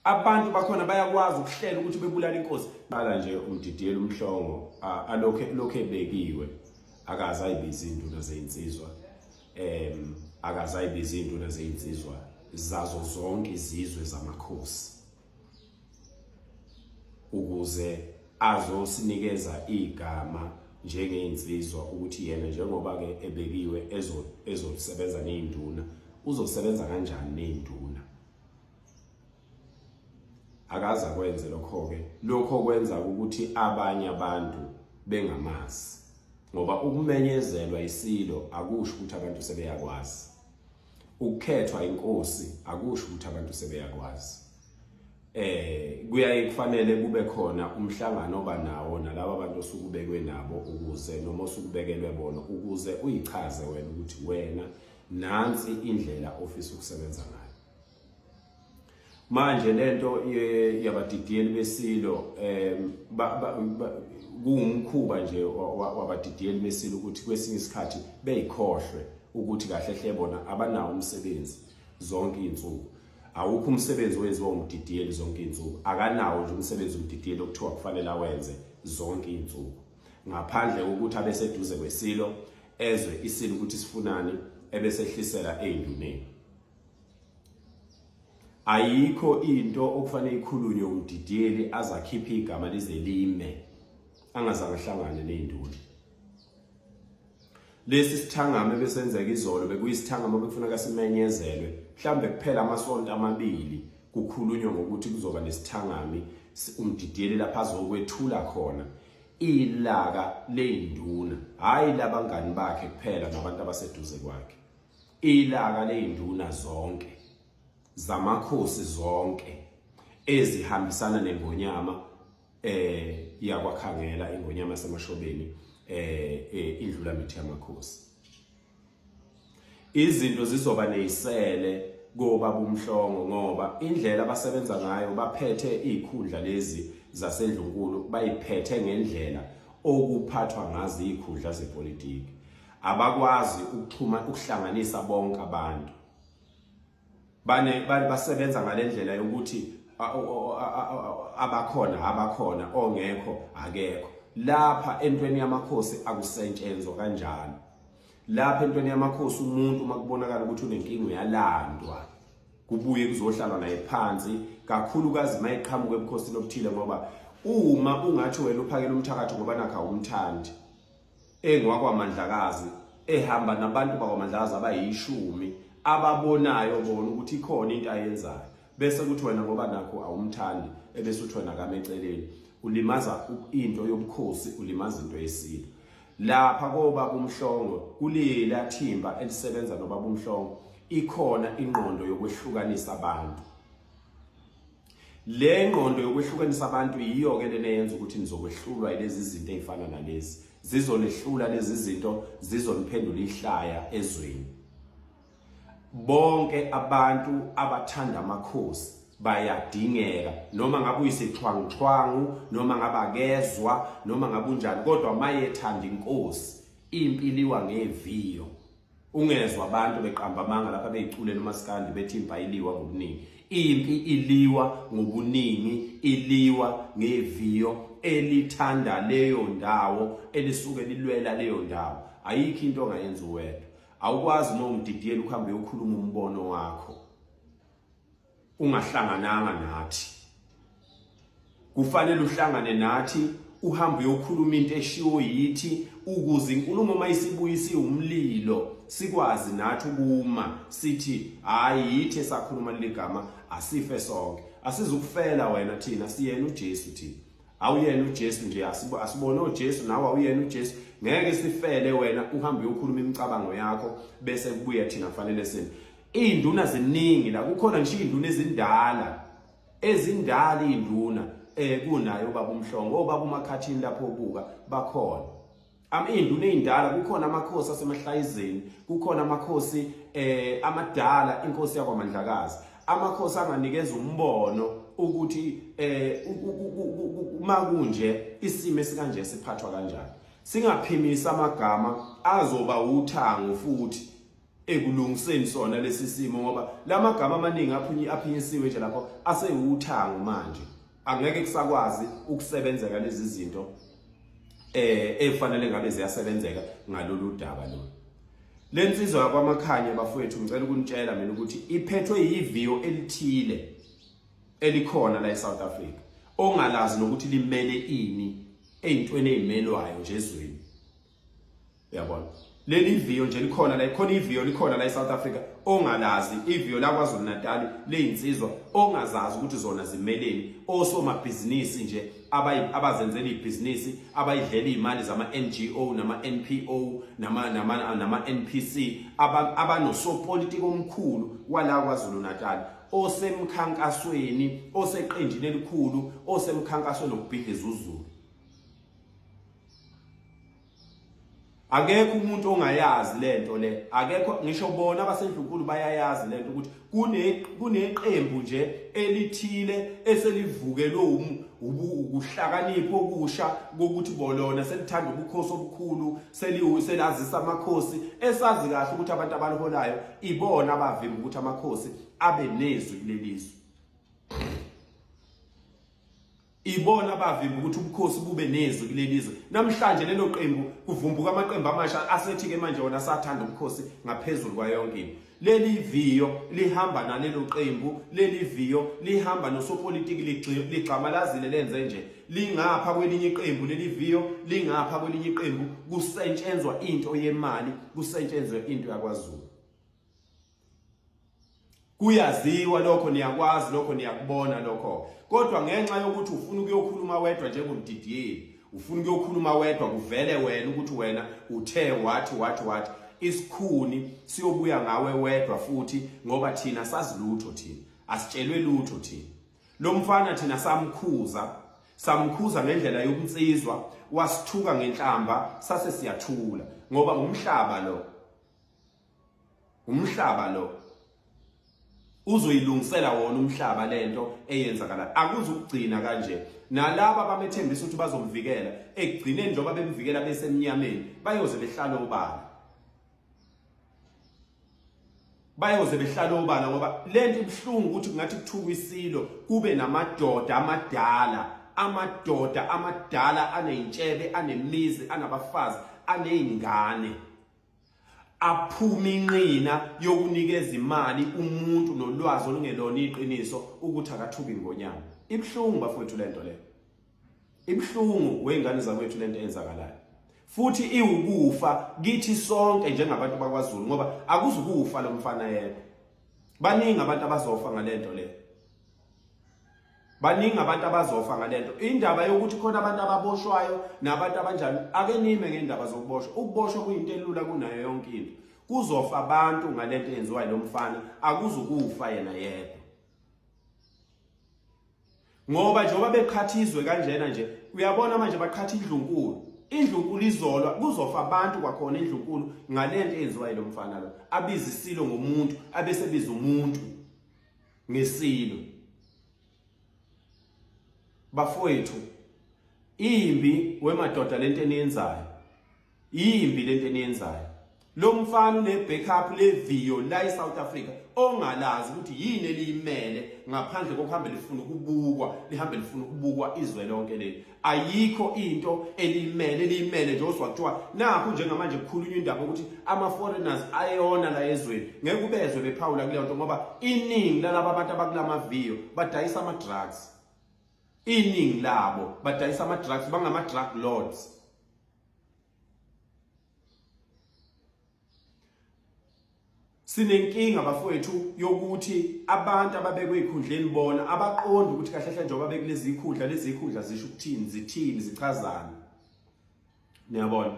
Abantu bakhona bayakwazi ukuhlela ukuthi bebulala inkosi. Bala nje umdidiyela umhlongo alokhe lokhe bekiwe akaze ayibiza indulo zeyinsizwa. Em akaze ayibiza indulo zeyinsizwa zazo zonke izizwe zamakhosi. Ukuze azosinikeza igama njengeinsizwa ukuthi yena njengoba ke ebekiwe ezo ezosebenza neinduna uzosebenza kanjani neinduna akaza kwenze lokho-ke lokho kwenza ukuthi abanye abantu bengamazi ngoba ukumenyezelwa isilo akusho ukuthi abantu sebeyakwazi ukukhethwa inkosi akusho ukuthi abantu sebeyakwazi eh kuyaye kufanele kube khona umhlangano oba nawo nalabo bantu osukubekwe nabo ukuze noma osukubekelwe bona ukuze uyichaze wena ukuthi wena nansi indlela ofisa ukusebenza ngayo manje lento yabadidiyeli besilo um kuwumkhuba nje wabadidiyeli besilo ukuthi kwesinye isikhathi beyikhohlwe ukuthi kahle hle bona abanawo umsebenzi zonke iy'nsuku awukho umsebenzi owenziwa umdidiyeli zonke iy'nsuku akanawo nje umsebenzi umdidiyeli okuthiwa kufanele awenze zonke iy'nsuku ngaphandle kokuthi abeseduze kwesilo ezwe isilo ukuthi sifunani ebesehlisela ey'nduneni ayikho into okufanele ikhulunywe umdidiyeli azakhiphe igama lize lime angazange ahlangane nezinduli lesi sithangame besenzeka izolo bekuyisithangame bekufuneka simenyezelwe mhlambe kuphela amasonto amabili kukhulunywa ngokuthi kuzoba nesithangami umdidiyeli lapha azokwethula khona ilaka leyinduna hayi labangani bakhe kuphela nabantu abaseduze kwakhe Ilaka ley'nduna zonke zamakhosi zonke ezihambisana nengonyama eh yakwakhangela ingonyama yasemashobeni eh, eh indlula mithi yamakhosi izinto zizoba nezisele koba kumhlongo ngoba indlela abasebenza ngayo baphethe izikhundla lezi zasendlunkulu bayiphethe ngendlela okuphathwa ngazo izikhundla zepolitiki abakwazi ukuxhuma ukuhlanganisa bonke abantu bane basebenza ngalendlela yokuthi abakhona abakhona ongekho akekho lapha entweni yamakhosi akusetshenzwa kanjalo lapha entweni yamakhosi umuntu uma kubonakala ukuthi unenkinga uyalandwa kubuye kuzohlalwa naye phansi kakhulukazi uma eqhamuka ebukhosini obuthile ngoba uma ungathi wena uphakela umthakathi ngoba nakha umthandi engwakwamandlakazi ehamba nabantu bakwaMandlaza abayishumi ababonayo bona ukuthi ikhona into ayenzayo bese kuthi wena ngoba nakho awumthandi ebese uthi wena kame eceleni ulimaza into yobukhosi ulimaza into yesintu lapha koba kumhlongo kulila thimba elisebenza nobaba umhlongo ikhona ingqondo yokwehlukanisa abantu Le ngqondo yokwehlukanisa abantu yiyo-ke lena yenza ukuthi nizokwehlulwa ilezi zinto ey'fana nalezi zizonihlula lezi zinto zizoniphendula ihlaya ezweni bonke abantu abathanda amakhosi bayadingeka noma ngabe uyisixhwanguxhwangu noma ngabe akezwa noma ngabe unjani kodwa mayethanda inkosi impilo iwa ngeviyo Ungezwa abantu beqamba amanga lapha beyiculela umaskandi bethi impi ayiliwa ngobuningi. Impi iliwa ngobuningi, iliwa ngeviyo elithanda leyo ndawo elisuke lilwela leyo ndawo. Ayikho into ongayenza uwedwa. Awukwazi uma ungididiyela ukuhambe uyokhuluma umbono wakho. ungahlangananga nathi kufanele uhlangane nathi uhambe uyokhuluma into eshiwo yithi ukuze inkulumo uma isibuyise umlilo sikwazi nathi ukuma sithi hayi yithe sakhuluma ligama asife sonke asizukufela wena thina siyena uJesu thina awuyena uJesu nje asibone uJesu nawe awuyena uJesu ngeke sifele wena uhambe uyokhuluma imicabango yakho bese kubuya thina fanele sini Iy'nduna ziningi la kukhona ngisho iy'nduna ezindala ezindala iy'nduna um kunayo ubaba umhlongo obaba umakhathini lapho obuka bakhona iy'nduna ey'ndala kukhona amakhosi asemahlayizeni kukhona amakhosi um amadala inkosi yakwamandlakazi amakhosi anganikeza umbono ukuthi um uma kunje isimo esikanje siphathwa kanjani singaphimisa amagama azoba uthango futhi ekulungiseni sona lesi simo ngoba lamagama amaningi aphinyi aphinyisiwe nje lapho asewuthango manje angeke kusakwazi ukusebenzeka lezi zinto eh efanele ngabe ziyasebenzeka ngalolu daba lo lensizwa yakwamakhanya bafowethu ngicela ukunitshela mina ukuthi iphethwe yiviyo elithile elikhona la eSouth Africa ongalazi nokuthi limele ini ezintweni ezimelwayo nje ezweni uyabona leli viyo nje likhona la khona iviyo likhona la eSouth Africa ongalazi iviyo la kwaZulu Natal leyinsizwa ongazazi ukuthi zona zimeleni osomabhizinisi nje abazenzela ibhizinisi abayidlela imali zama NGO nama NPO nama nama nama NPC abanosopolitiki omkhulu wala kwaZulu Natal osemkhankasweni oseqenjini elikhulu osemkhankasweni okubhidliza uzulu akekho umuntu ongayazi lento le akekho ngisho bona abasendlunkulu bayayazi lento ukuthi kune kuneqembu nje elithile eselivukelwe ukuhlakanipha okusha kokuthi bolona selithanda ubukhosi obukhulu selazisa amakhosi esazi kahle ukuthi abantu abaliholayo ibona abavimba ukuthi amakhosi abe nezwi kulelizwe Ibona abavimba ukuthi ubukhosi bube nezwi kuleli zwe. Namhlanje lelo qembu kuvumbuka amaqembu amasha asethi-ke manje wona asathanda ubukhosi ngaphezulu kwayonke into. Leli viyo lihamba nalelo qembu, leli viyo lihamba nosopolitiki ligxamalazile lenze nje. Lingapha kwelinye iqembu leli viyo, lingapha kwelinye iqembu kusentshenzwa into yemali, kusentshenzwe into yakwaZulu. kuyaziwa lokho niyakwazi lokho niyakubona lokho kodwa ngenxa yokuthi ufuna ukuyokhuluma wedwa njengomdidiyeli ufuna ukuyokhuluma wedwa kuvele wena ukuthi wena uthe wathi wathi wathi isikhuni siyobuya ngawe wedwa futhi ngoba thina sazilutho thina asitshelwe lutho thina lo mfana thina samkhuza samkhuza ngendlela yokunsizwa wasithuka ngenhlamba sase siyathula ngoba umhlaba lo umhlaba lo uzoyilungisela wona umhlaba lento eyenzakala akuzukugcina kanje nalabo abamethembisa ukuthi bazomvikela ekugcineni njengoba bemvikela besemnyameni bayoze behlale obala bayoze behlale obala ngoba lento ibuhlungu ukuthi kungathi kuthuka isilo kube namadoda amadala amadoda amadala aneyintshebe anemizi anabafazi anezingane aphuma inqina yokunikeza imali umuntu nolwazi olungelona iqiniso ukuthi akathuki ingonyama ibuhlungu bafowethu lento le ibuhlungu weyngane zakwethu lento eyenzakalayo futhi iwukufa kithi sonke njengabantu bakwaZulu ngoba akuzukufa lomfana yedwa baningi abantu abazofa ngalento le baningi abantu abazofa ngalento indaba yokuthi khona abantu ababoshwayo nabantu abanjani ake nime ngendaba zokuboshwa ukuboshwa kuyinto elula kunayo yonke into kuzofa abantu ngalento eyenziwa lo mfana akuzukufa yena yedwa ngoba njengoba beqhathizwe kanjena nje uyabona manje baqhatha indlunkulu indlunkulu izolwa kuzofa abantu kwakhona indlunkulu ngalento eyenziwa yilo mfana lo abizisilo ngomuntu abesebiza umuntu ngesilo bafowethu imbi wemadoda lento eniyenzayo imbi lento eniyenzayo lo mfana une backup le video la eSouth Africa ongalazi ukuthi yini eliyimele ngaphandle kokuhamba lifuna ukubukwa lihambe lifuna ukubukwa izwe lonke leli ayikho into elimele elimele nje ozwa kuthiwa nakho njengamanje kukhulunywa indaba ukuthi ama-foreigners ayona la ezweni ngeke ubezwe bephawula kuleyo nto ngoba iningi lalaba abantu abakula maviyo badayisa ama-drugs iningi labo badayisa ama-drugs bangama-drug lords Sinenkinga bafowethu yokuthi abantu ababekwe ikhundleni bona abaqondi ukuthi kahle kahle njengoba bekulezi ikhundla lezi ikhundla zisho ukuthini zithini zichazana. Niyabona?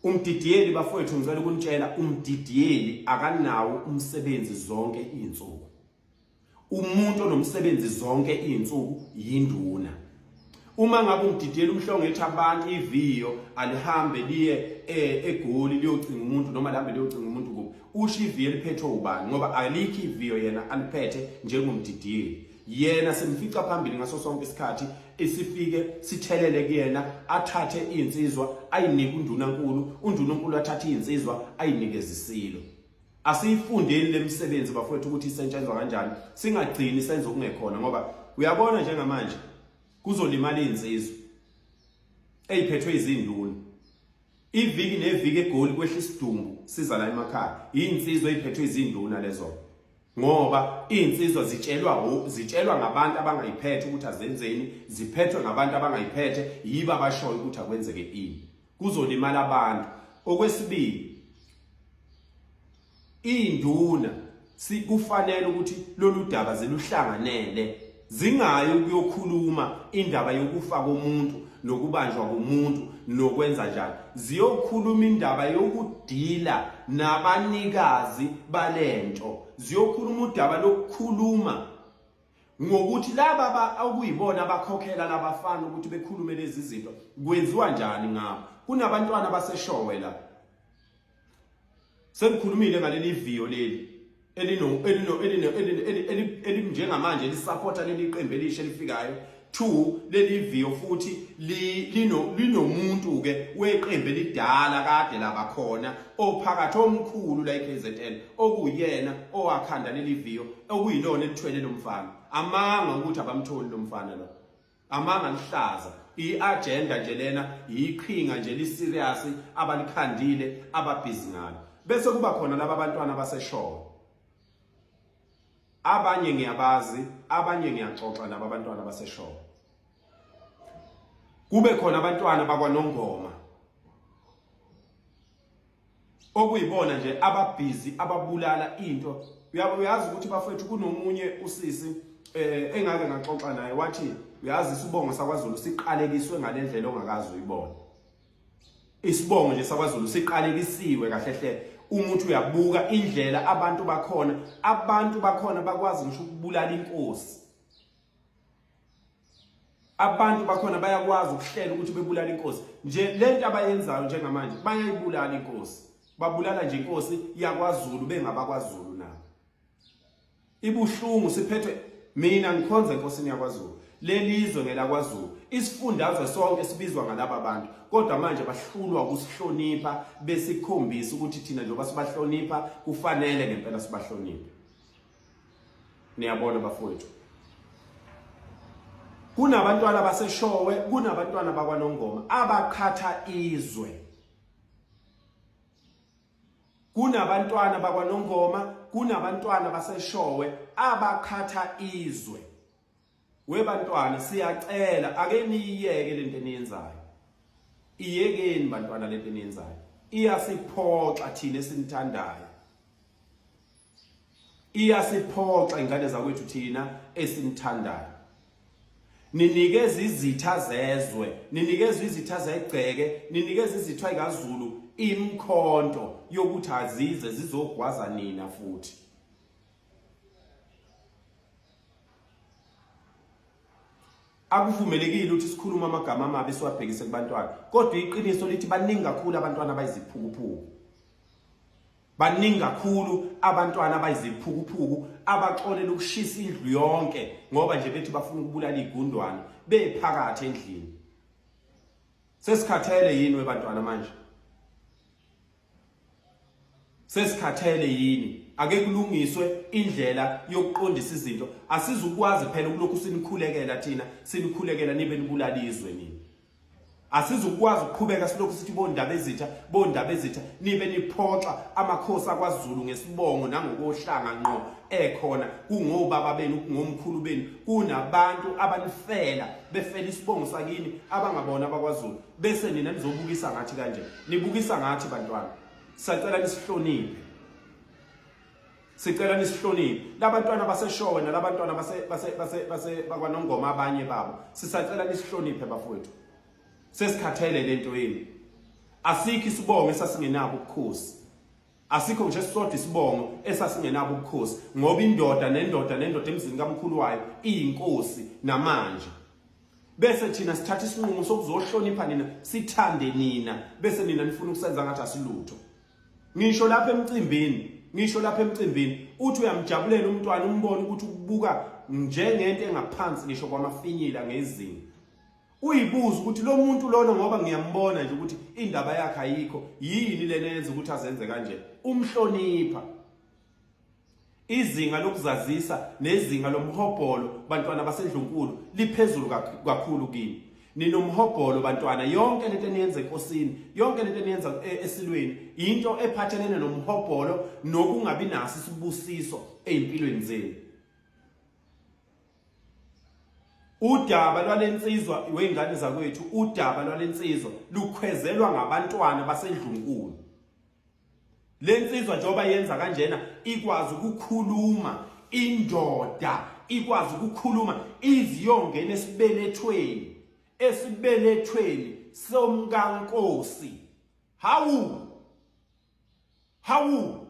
Umdidiyeli bafowethu ngicela ukunitshela umdidiyeli akanawo umsebenzi zonke izinsuku. umuntu onomsebenzi zonke izinsuku yinduna uma ngabe ungididela umhlongo ethi abantu iviyo alihambe liye eh, egoli liyocinga umuntu noma lihambe liyocinga umuntu kubo usho iviyo eliphethwe ubani ngoba alikho iviyo yena aliphethe njengomdideli yena simfica phambili ngaso sonke isikhathi isifike sithelele kuyena athathe insizwa ayinike undunankulu undunankulu athathe insizwa ayinikeze isilo Asiyifundeni lemisebenzi bafowethu ukuthi isetshenzwa kanjani singagcini senza okungekhona ngoba uyabona njengamanje kuzolimala insizwe eyiphethwe izinduna iviki neviki egoli kwehla isidumbu siza la emakhaya insizwe eyiphethwe izinduna lezo ngoba insizwa zitshelwa zitshelwa ngabantu abangayiphethe ukuthi azenzeni ziphethwe ngabantu abangayiphethe yiba bashoyo ukuthi akwenzeke ini kuzolimala abantu okwesibili induna sikufanele ukuthi lolu daba ziluhlanganele zingayi ukuyokhuluma indaba yokufa komuntu nokubanjwa komuntu nokwenza njani ziyokhuluma indaba yokudila nabanikazi balento ziyokhuluma udaba lokukhuluma ngokuthi laba okuyibona abakhokhela labafana ukuthi bekhulume lezi zinto kwenziwa njani ngabo kunabantwana abaseshowe la sengikhulumile ngaleli viyo leli elinjengamanje lisapota leli qembu elisha elifikayo Two, leli video futhi linomuntu ke weqembu elidala kade laba khona ophakathi omkhulu la eKZN okuyena owakhanda leli video okuyilona elithwele lo mfana. Amanga ukuthi abamtholi lo mfana lo. Amanga lihlaza. I-agenda nje lena yiqhinga nje liserious abalikhandile ababhizi ngalo. Bese kuba khona laba bantwana baseshoko. Abanye ngiyabazi, abanye ngiyaxoxa nabo abantwana baseshowe. Kube khona abantwana bakwaNongoma okuyibona nje ababhizi ababulala into uyabo uyazi ukuthi bafethu kunomunye usisi eh engake ngaxoxa naye wathi uyazi isibongo sakwaZulu siqalekiswe ngalendlela ongakazi uyibona Isibongo nje sakwaZulu siqalekisiwe kahle hle umuthi uyabuka indlela abantu bakhona abantu bakhona bakwazi ngisho ukubulala inkosi abantu bakhona bayakwazi ukuhlela ukuthi bebulala inkosi nje lento abayenzayo njengamanje bayayibulala inkosi babulala nje inkosi yakwaZulu bengabakwaZulu ibuhlungu siphethwe mina ngikhonza enkosini yakwaZulu lelizwe ngelakwaZulu isifundazwe sonke sibizwa ngalaba bantu kodwa manje bahlulwa ukusihlonipha besikhombisa ukuthi thina njengoba sibahlonipha kufanele ngempela sibahloniphe niyabona bafowethu kunabantwana baseshowe kunabantwana bakwanongoma abaqhatha izwe Kunabantwana bakwaNongoma, kunabantwana baseshowe abakhatha izwe. Webantwana siyacela ake niyiyeke lento eniyenzayo. Iyekeni bantwana lento eniyenzayo. Iyasiphoxa thina esinithandayo. iyasiphoxa ingane zakwethu thina esimthandayo ninikeza izitha zezwe ninikeza izitha zegceke ninikeza izitha ikazulu imkhonto yokuthi azize zizogwaza nina futhi akuvumelekile ukuthi sikhulume amagama amabi siwabhekise kubantwana kodwa iqiniso lithi baningi kakhulu abantwana abayiziphukuphuku Baningi kakhulu abantwana abayiziphukuphuku abaxolela ukushisa indlu yonke ngoba nje bethi bafuna ukubulala igundwane bephakathi endlini. Sesikhathele yini webantwana manje? Sesikhathele yini? Ake kulungiswe indlela yokuqondisa izinto. Asizukwazi phela ukulokhu sinikhulekela thina, sinikhulekela nibe nibulala izwe nini. Asizukwazi ukuqhubeka silokhu sithi bondaba ezitha bondaba ezitha nibe niphoxa amakhosi akwaZulu ngesibongo nangokohlanga ngqo ekhona kungobaba benu kungomkhulu benu kunabantu abanifela befela isibongo sakini abangabona abakwaZulu bese nina nizobukisa ngathi kanje nibukisa ngathi bantwana sacela nisihloniphe Sicela nisihloniphe labantwana baseshowe nalabantwana base base base base bakwanongoma abanye babo. Sisacela nisihloniphe bafowethu. Sesikhathele lento yenu. Asikho isibongo esasingenabo ubukhosi. Asikho nje sisodwa isibongo esasingenabo ubukhosi ngoba indoda nendoda nendoda emzini kamkhulu wayo iyinkosi namanje. Bese thina sithatha isinqumo sokuzohlonipha nina, sithande nina, bese nina nifuna ukusenza ngathi asilutho. ngisho lapha emcimbini ngisho lapha emcimbini uthi uyamjabulela umntwana umbone ukuthi ukubuka njengento engaphansi ngisho kwamafinyila ngezinga uyibuza ukuthi lo muntu lona ngoba ngiyambona nje ukuthi indaba yakhe ayikho yini lena yenza ukuthi azenze kanje umhlonipha Izinga lokuzazisa nezinga lomhobholo bantwana basendlunkulu liphezulu kakhulu kini. Ninomhobholo bantwana yonke lento eniyenza enkosini, yonke lento eniyenza e, esilweni into ephathelene nomhobholo nokungabi naso isibusiso ezimpilweni zenu. Udaba lwalensizwa weingane zakwethu, udaba lwalensizwa lukhwezelwa ngabantwana basendlunkulu. Le nsizwa njengoba yenza kanjena ikwazi ukukhuluma indoda ikwazi ukukhuluma iziyongena esibelethweni esibelethweni somkankosi hawu hawu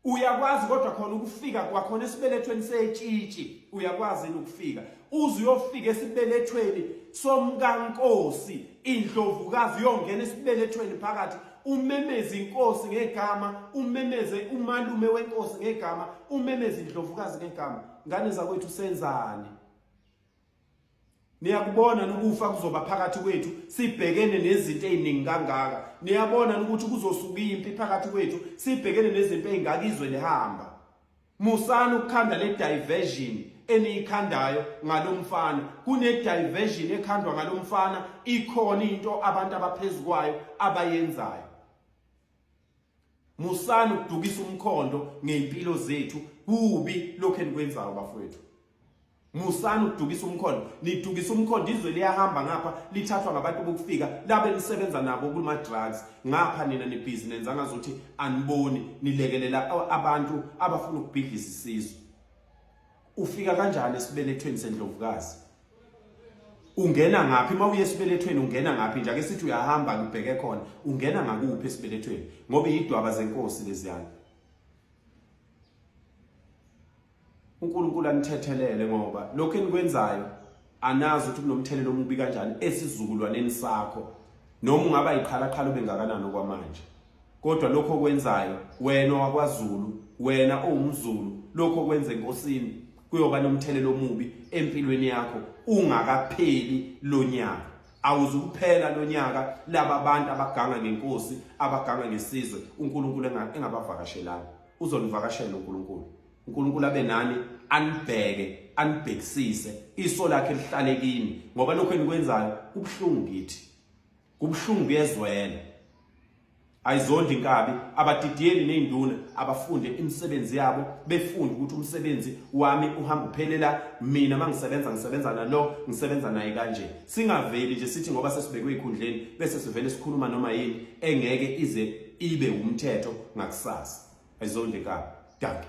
uyakwazi kodwa khona ukufika kwakhona esibelethweni setshitshi uyakwazi ukufika uze uyofika esibelethweni somkankosi indlovukazi uyongena esibelethweni phakathi umemeze inkosi ngegama umemeze umalume wenkosi ngegama umemeze indlovukazi ngegama ngane zakwethu senzani niyakubona nokufa kuzoba phakathi kwethu sibhekene nezinto eziningi kangaka niyabona ukuthi kuzosuka impi phakathi kwethu sibhekene nezinto ezingaka izwe lihamba musani ukukhanda le diversion eniyikhandayo ngalomfana kune diversion ekhandwa ngalomfana ikhona into abantu abaphezukwayo abayenzayo musani ukudukisa umkhondo ngey'mpilo zethu kubi lokhu enikwenzayo bafowethu musani ukudukisa umkhondo nidukisa umkhondo izwe liyahamba ngapha lithathwa ngabantu bokufika labe nisebenza nabo kuma-drugs ngapha nina nibhizi nenza ngazuthi aniboni nilekelela abantu abafuna ukubhidlisa isizwe Ufika kanjani esibelethweni sendlovukazi? Ungena ngaphi uma uye esibelethweni ungena ngaphi nje ake sithi uyahamba kubheke khona ungena ngakuphi esibelethweni ngoba yidwaba zenkosi leziyana. uNkulunkulu anithethelele ngoba lokho enikwenzayo anazi ukuthi kunomthelela omubi kanjani esizukulwaneni sakho noma ungaba yiqhalaqhala ubengakanani okwamanje kodwa lokho okwenzayo wena wakwaZulu wena owumZulu lokho okwenze enkosini kuyoba nomthelela omubi empilweni yakho ungakapheli lonyaka awuzukuphela lonyaka laba bantu abaganga ngenkosi abaganga ngesizwe uNkulunkulu engabavakashelanga uzonivakashela uNkulunkulu uNkulunkulu abe nani anibheke anibhekisise iso lakhe lihlale kini ngoba lokho enikwenzayo kubuhlungu kithi kubuhlungu kuyezwela ayizondi inkabi abadidiyeli nezinduna abafunde imisebenzi yabo befunde ukuthi umsebenzi wami uhamba uphelela mina mangisebenza ngisebenza nalo ngisebenza naye kanje singaveli nje sithi ngoba sesibekwe ikhundleni bese sivele sikhuluma noma yini engeke ize ibe umthetho ngakusasa Ayizondle ka. Dankie.